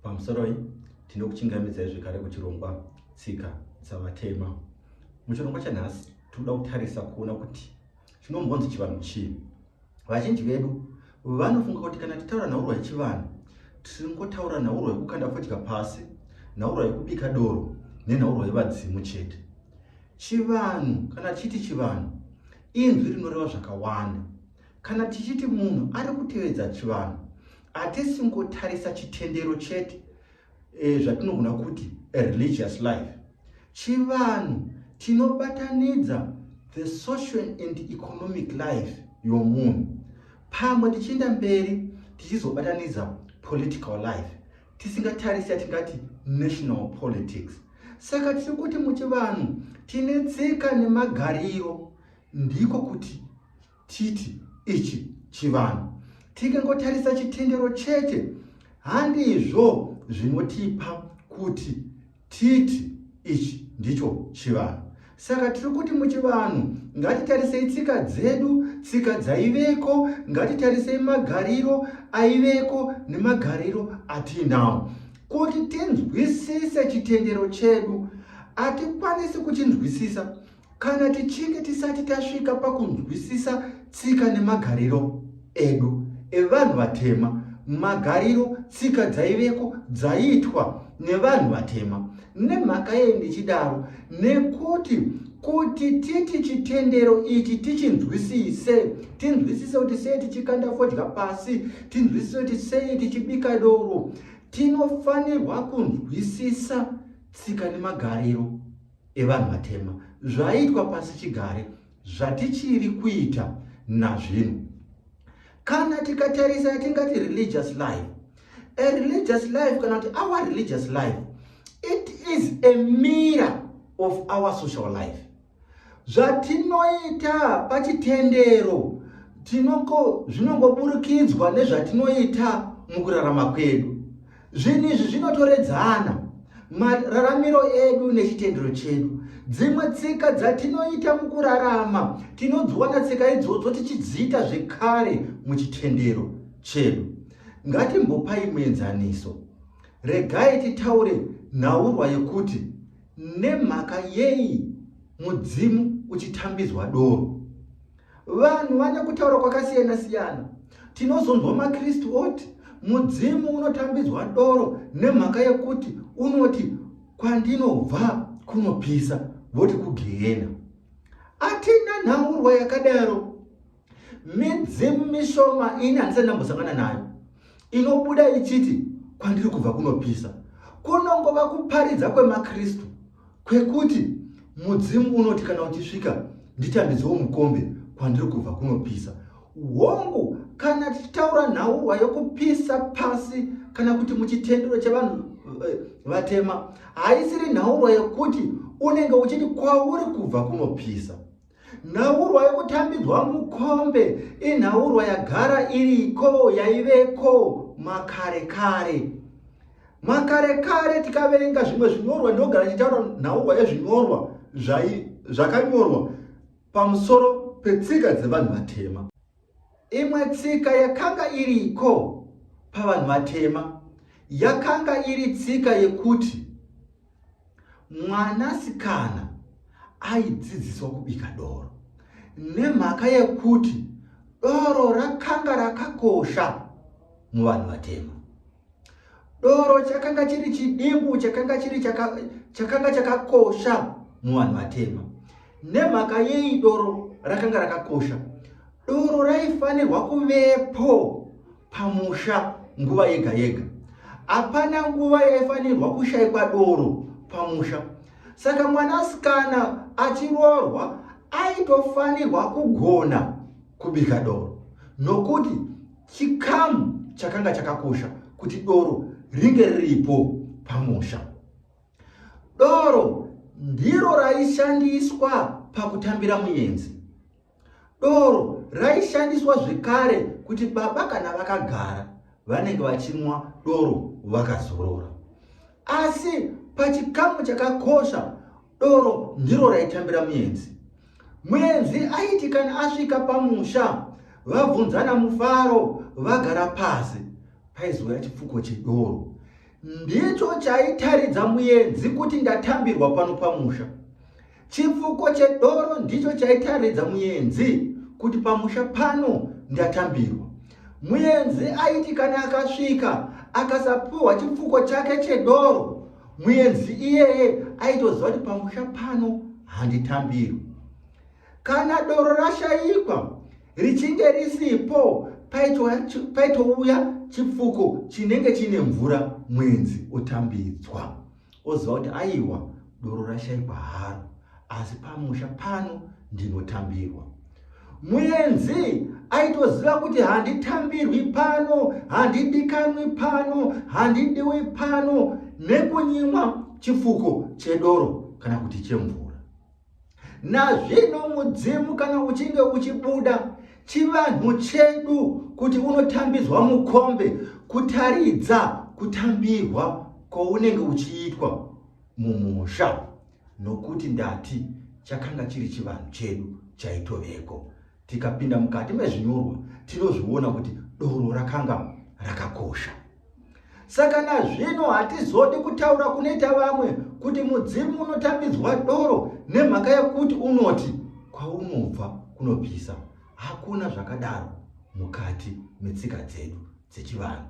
Pamusoroi, tinokuchingamidzai zvekare kuchirongwa Tsika dzaVatema. Muchirongwa chanhasi, tinoda kutarisa kuona kuti chinombonzi chivanhu chii. Vazhinji vedu vanofunga kuti kana titaura nhaurwa yechivanhu, tingotaura nhaurwa yekukanda fodya pasi, nhaurwa yekubika doro nenhaurwa yevadzimu chete. Chivanhu, kana tichiti chivanhu, inzwi rinoreva zvakawanda. Kana tichiti munhu ari kutevedza chivanhu, Hatisi kungotarisa chitendero chete e, zvatinogona kuti a religious life chivanhu tinobatanidza the social and economic life yomunhu pamwe tichienda mberi tichizobatanidza political life tisingatarisi yatingati national politics saka tiri kuti muchivanhu tine tsika nemagariro ndiko kuti Titi ichi chivanhu tikangotarisa chitendero chete handizvo zvinotipa kuti titi ichi ndicho chivanhu saka tiri kuti muchivanhu ngatitarisei tsika dzedu tsika dzaiveko ngatitarisei magariro aiveko nemagariro atiinawo kuti tinzwisise chitendero chedu hatikwanisi kuchinzwisisa Kana tichinge tisati tasvika pakunzwisisa tsika nemagariro edu evanhu vatema, magariro, tsika dzaiveko dzaiitwa nevanhu vatema. Nemhaka yei ndichidaro? Nekuti kuti titi chitendero ichi tichinzwisise, tinzwisise kuti sei tichikanda fodya pasi, tinzwisise kuti sei tichibika doro, tinofanirwa kunzwisisa tsika nemagariro evanhu vatema zvaiitwa pasi chigare zvatichiri kuita nazvino kana tikatarisa yatingati religious life a religious life kana kuti our religious life it is a mirror of our social life zvatinoita pachitendero tinoko zvinongoburikidzwa nezvatinoita mukurarama kwedu Zvinhu izvi zvinotoredzana mararamiro edu nechitendero chedu. Dzimwe tsika dzatinoita mukurarama tinodziwana tsika idzodzo tichidziita zvekare muchitendero chedu. Ngatimbopai muenzaniso. Regai titaure nhaurwa yekuti nemhaka yei mudzimu uchitambidzwa doro. Vanhu vane kutaura kwakasiyana siyana. Tinozonzwa maKristu oti mudzimu unotambidzwa doro nemhaka yekuti unoti kwandinobva kunopisa voti kugehena. Atina nhaurwa yakadaro. Midzimu mishoma ini handisati ndambosangana nayo inobuda ichiti kwandiri kubva kunopisa kunongova kuparidza kwemaKristu kwekuti mudzimu unoti kana uchisvika ndichandidzowo mukombe kwandiri kubva kunopisa hongu kana tichitaura nhauwa yokupisa pasi kana kuti muchitendero chevanhu eh, vatema haisiri nhaurwa yekuti unenge uchiti kwauri kubva kunopisa Nhaurwa yokutambidzwa mukombe inhaurwa yagara iriko yaiveko makare kare. Makare kare tikaverenga zvimwe zvinyorwa ndinogara ndichitaura nhaurwa yezvinyorwa zvakanyorwa pamusoro petsika dzevanhu vatema. Imwe tsika yakanga iriko pavanhu vatema yakanga iri tsika yekuti mwanasikana aidzidziswa kubika doro nemhaka yekuti doro rakanga rakakosha muvanhu vatema. Doro chakanga chiri chidimbu chakanga chiri chakanga chakakosha muvanhu vatema. Nemhaka yei doro rakanga rakakosha? Doro raifanirwa kuvepo pamusha nguva yega yega. Hapana nguva yaifanirwa kushaikwa doro pamusha. Saka mwanasikana achiroorwa aitofanirwa kugona kubika doro nokuti Chikamu chakanga chakakosha kuti doro ringe riripo pamusha. Doro ndiro raishandiswa pakutambira muyenzi. Doro raishandiswa zvekare kuti baba kana vakagara vanenge vachinwa doro vakazorora. Asi pachikamu chakakosha Doro ndiro raitambira muenzi. Muenzi aiti kana asvika pamusha vabvunzana mufaro vagara pasi paizouya chipfuko chedoro. Ndicho chaitaridza muenzi kuti ndatambirwa pano pamusha. Chipfuko chedoro ndicho chaitaridza muenzi kuti pamusha pano ndatambirwa. Muenzi aiti kana akasvika akasapuhwa chipfuko chake chedoro, muenzi iyeye aitoziva kuti pamusha pano handitambirwi. Kana doro rashaikwa richinge risipo, paitouya chipfuko chinenge chine mvura, muenzi otambidzwa. oziva kuti aiwa doro rashaikwa haro asi pamusha pano ndinotambirwa muenzi aitoziva kuti handitambirwi pano handidikanwi pano handidiwi pano nekunyimwa chifuko chedoro kana kuti chemvura Nazvino mudzimu kana uchinge uchibuda chivanhu chedu kuti unotambidzwa mukombe kutaridza kutambirwa kwounenge uchiitwa mumusha nokuti ndati chakanga chiri chivanhu chedu chaitoveko Tikapinda mukati mezvinyorwa tinozviona kuti doro rakanga rakakosha. Saka nazvino hatizodi kutaura kunoita vamwe kuti mudzimu unotambidzwa doro nemhaka yekuti unoti kwaunobva kunopisa. Hakuna zvakadaro mukati metsika dzedu dzechivanhu.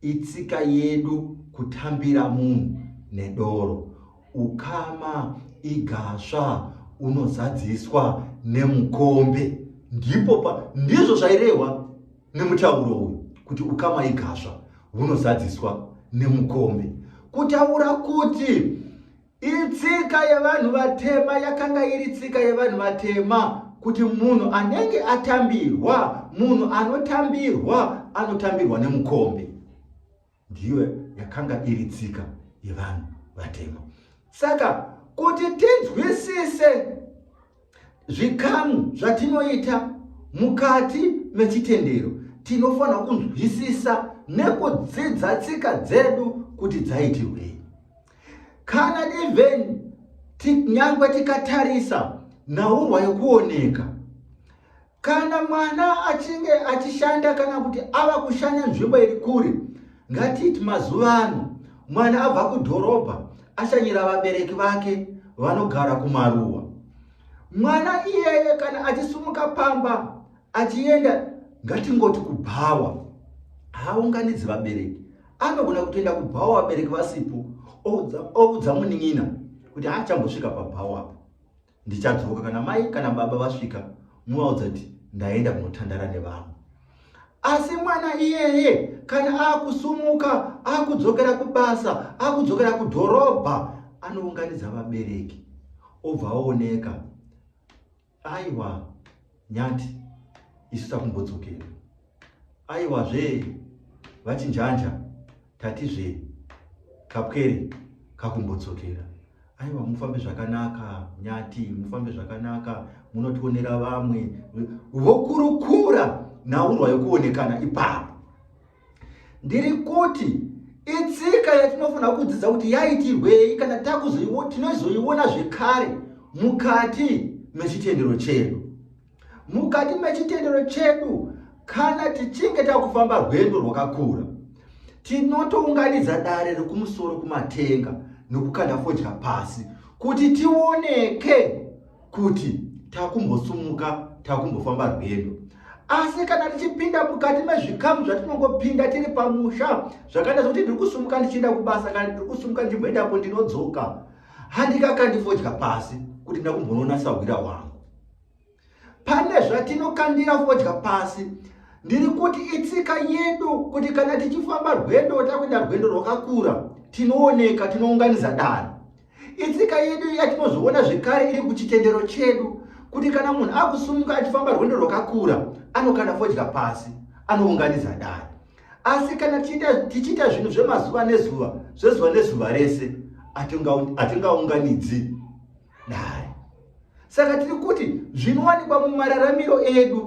Itsika yedu kutambira munhu nedoro. Ukama igasva unozadziswa nemukombe. Ndipo pa, ndizvo zvairehwa nemutauro uyu kuti ukama igasva hunozadziswa nemukombe. Kutaura kuti Itsika yevanhu vatema yakanga iri tsika yevanhu vatema kuti munhu anenge atambirwa munhu anotambirwa anotambirwa nemukombe ndiyo yakanga iri tsika yevanhu vatema saka kuti tinzwisise Zvikamu zvatinoita mukati mechitendero tinofanira kunzwisisa nekudzidza tsika dzedu kuti dzaitirwei. Kana even nyangwe tikatarisa nhaurwa yokuoneka Kana mwana achinge achishanda kana kuti ava kushanya nzvimbo iri kure, ngatiti mazuva ano mwana abva kudhorobha ashanyira vabereki vake vanogara kumaruwa. Mwana iyeye kana achisumuka pamba achienda ngatingoti kubhawa, haaunganidzi vabereki. Anogona kutoenda kubhawa vabereki vasipo, oudza munin'ina kuti haachambosvika pabhawa apo. ndichadzoka kana mai kana baba vasvika muvaudza kuti ndaenda kunotandara nevanhu asi mwana iyeye kana akusumuka akudzokera kubasa akudzokera kudhorobha anounganidza vabereki obva aoneka aiwa Nyati isu takumbodzokera. Aiwa zvee vachinjanja tati zvee kapwere kakumbodzokera. Aiwa mufambe zvakanaka nyati mufambe zvakanaka munotionera vamwe vokurukura nhaurwa yokuonekana ipapo. ndiri kuti itsika yatinofanira kudzidza kuti yaitirwei kana tinozoiona zvekare mukati mechitendero chedu mukati mechitendero chedu kana tichinge takufamba rwendo rwakakura tinotounganidza dare rekumusoro kumatenga nokukanda fodya pasi kuti tioneke kuti takumbosumuka takumbofamba rwendo asi kana tichipinda mukati mezvikamu zvatinongopinda tiri pamusha zvakaita zvekuti ndiri kusumuka ndichienda kubasa kana ndiri kusumuka ndichimboendapo ndinodzoka handikakandifodya pasi kuti ndakumbonoona sahwira wangu pane zvatinokandira fodya pasi ndiri kuti itsika yedu kuti kana tichifamba rwendo takuenda rwendo rwakakura tinooneka tinounganiza dano Itsika yedu yatinozoona zvekare iri kuchitendero chedu kuti kana munhu akusumuka achifamba rwendo rwakakura anokanda fodya pasi anounganidza dare asi kana tichiita zvinhu zvemazuva nezuva zvezuva nezuva rese hatingaunganidzi dare Saka tiri kuti zvinowanikwa mumararamiro edu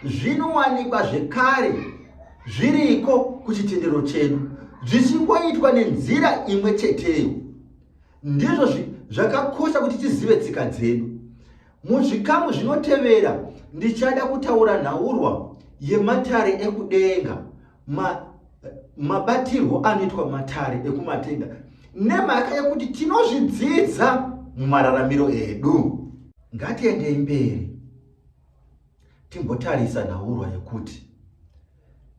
zvinowanikwa zvekare zviriko kuchitendero chedu zvichingoitwa nenzira imwe cheteyo. Ndizvo zvakakosha kuti tizive tsika dzedu. Muzvikamu zvinotevera ndichada kutaura nhaurwa yematare ekudenga. ma, mabatirwo anoitwa matare ekumatenga nemhaka yekuti tinozvidzidza mumararamiro edu ngatiendei mberi timbotarisa nhaurwa yekuti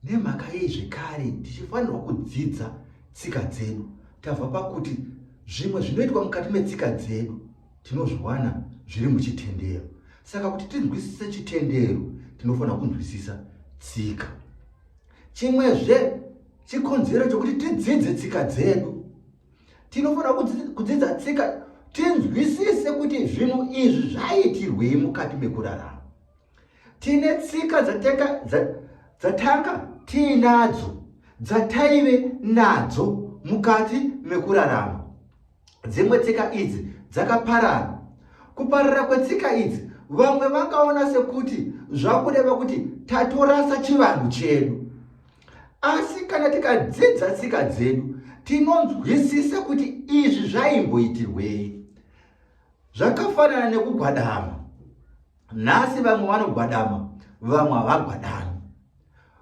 nemhaka yei zvekare tichifanirwa kudzidza tsika dzedu tava pakuti zvimwe zvinoitwa mukati metsika dzedu Tinozviwana zviri muchitendero. Saka kuti tinzwisise chitendero, tinofanira kunzwisisa tsika. Chimwezve chikonzero chokuti tidzidze tsika dzedu. Tinofanira kudzidza tsika tinzwisise kuti zvinhu izvi zvaiitirwei mukati mekurarama. Tine tsika dzatanga dzatanga tiinadzo dzataive nadzo mukati mekurarama. Dzimwe tsika idzi dzakaparara. Kuparara kwetsika idzi vamwe vakaona sekuti zvakureva kuti tatorasa chivanhu chedu. Asi kana tikadzidza tsika dzedu tinonzwisisa kuti izvi zvaimboitirwei. Zvakafanana nekugwadama. nhasi vamwe vanogwadama vamwe havagwadami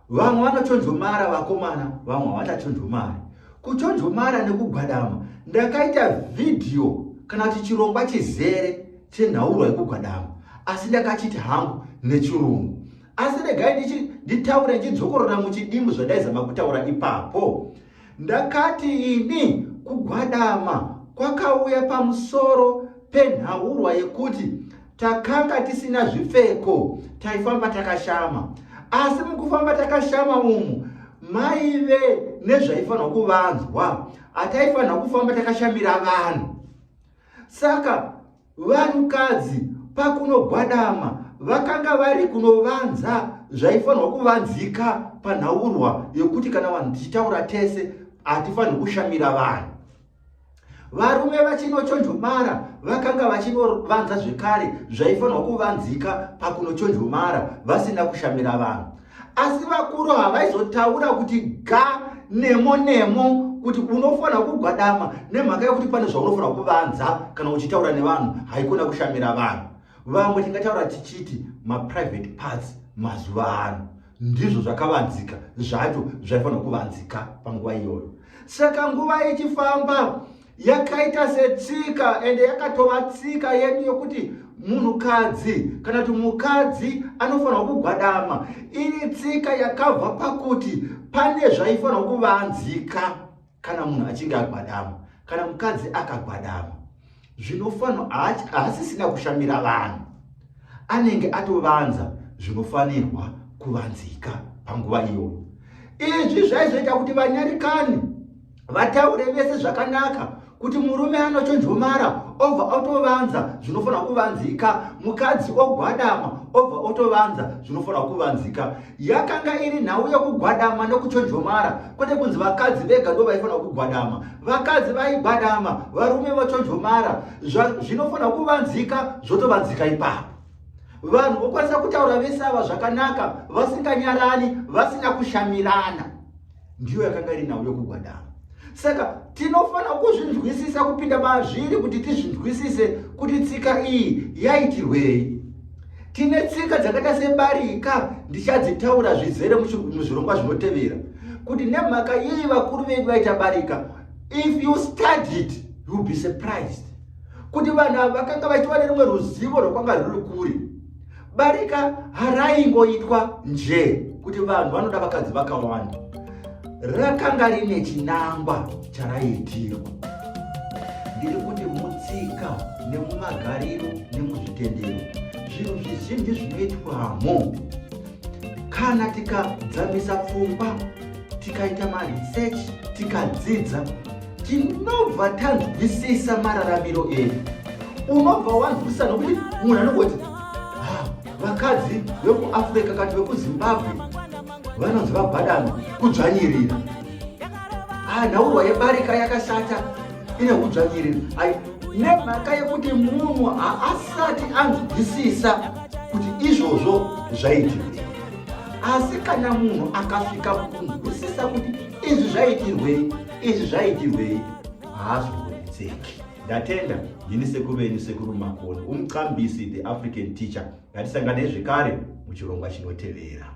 vamwe vanochonjomara vakomana vamwe havachachonjomari kuchonjomara nekugwadama ndakaita vhidhiyo kana kuti chirongwa chizere chenhauro yekugwadama asi ndakachiti hangu nechirungu asi regai nditaure ndidzokorora muchidimbu zvandaizama kutaura ipapo Ndakati ini kugwadama kwakauya pamusoro penhaurwa yekuti takanga tisina zvipfeko taifamba takashama asi mukufamba takashama umu maive nezvaifanirwa kuvanzwa hataifanirwa kufamba takashamira vanhu saka Vanhukadzi pakunogwadama vakanga vari kunovanza zvaifanirwa kuvanzika panhaurwa yokuti kana vanhu tichitaura tese hatifanirwi kushamira vanhu varume vachinochonjomara vakanga vachinovanza zvekare zvaifanirwa kuvanzika pakunochonjomara vasina kushamira vanhu asi vakuru havaizotaura kuti ga nemo nemo kuti unofanira kugwadama nemhaka yekuti pane zvaunofanira kuvanza kana uchitaura nevanhu haikona kushamira vanhu vamwe tingataura tichiti maprivate parts mazuva ano ndizvo zvakavanzika zvacho zvaifanira kuvanzika panguva iyoyo saka nguva ichifamba yakaita setsika ende yakatova tsika yedu yokuti munhukadzi kana kuti mukadzi anofanirwa kugwadama iri tsika yakabva pakuti pane zvaifanirwa kuvanzika kana munhu achinge agwadama kana mukadzi akagwadama zvinofanirwa haasisina kushamira vanhu anenge atovanza zvinofanirwa kuvanzika panguva iyoyo izvi zvaizoita kuti vanyarikani vataure vese zvakanaka kuti murume anochonjomara obva otovanza zvinofanira kuvanzika mukadzi ogwadama obva otovanza zvinofanira kuvanzika yakanga iri nhau yokugwadama nokuchonjomara kwete kunzi vakadzi vega ndo vaifanira kugwadama vakadzi vaigwadama varume vochonjomara zvinofanira kuvanzika zvotovanzika ipapo vanhu vokwanisa kutaura vese ava zvakanaka vasinganyarani vasina kushamirana ndiyo yakanga iri nhau yokugwadama saka tinofanira kuzvinzwisisa kupinda mazviri kuti tizvinzwisise kuti tsika iyi yaitirwei tine tsika dzakaita sebarika ndichadzitaura zvizere muzvirongwa zvinotevera kuti nemhaka yei vakuru vedu vaita barika if you study it youll be surprised kuti vanhu ava vakanga vachiva nerimwe ruzivo rwakwanga ruri kuri Barika haraingoitwa njee kuti vanhu vanoda vakadzi vakawanda, rakanga rine chinangwa charaiitirwa. Ndiri kuti mutsika nemumagariro nemuzvitendero, zvinhu zvizhinji zvinoitwamo kana tikadzamisa pfungwa tikaita maresearch tikadzidza tinobva tanzwisisa mararamiro edu unobva wanzwisisa nokuti munhu anongoti ah, vakadzi vekuafrica kati vekuzimbabwe vanonzi vabhadano kudzvanyirira ah, nhaurwa yebarika yakashata ine kudzvanyirira nemhaka yekuti munhu haasati anzwisisa kuti izvozvo zvaitii asi kana munhu akasvika kukunzwisisa kuti izvi zvaitirwei izvi zvaitirwei haazvikurudzeki ndatenda ndini sekuru venyu sekuru makoni umcambisi the african teacher ngatisanganei zvekare muchirongwa chinotevera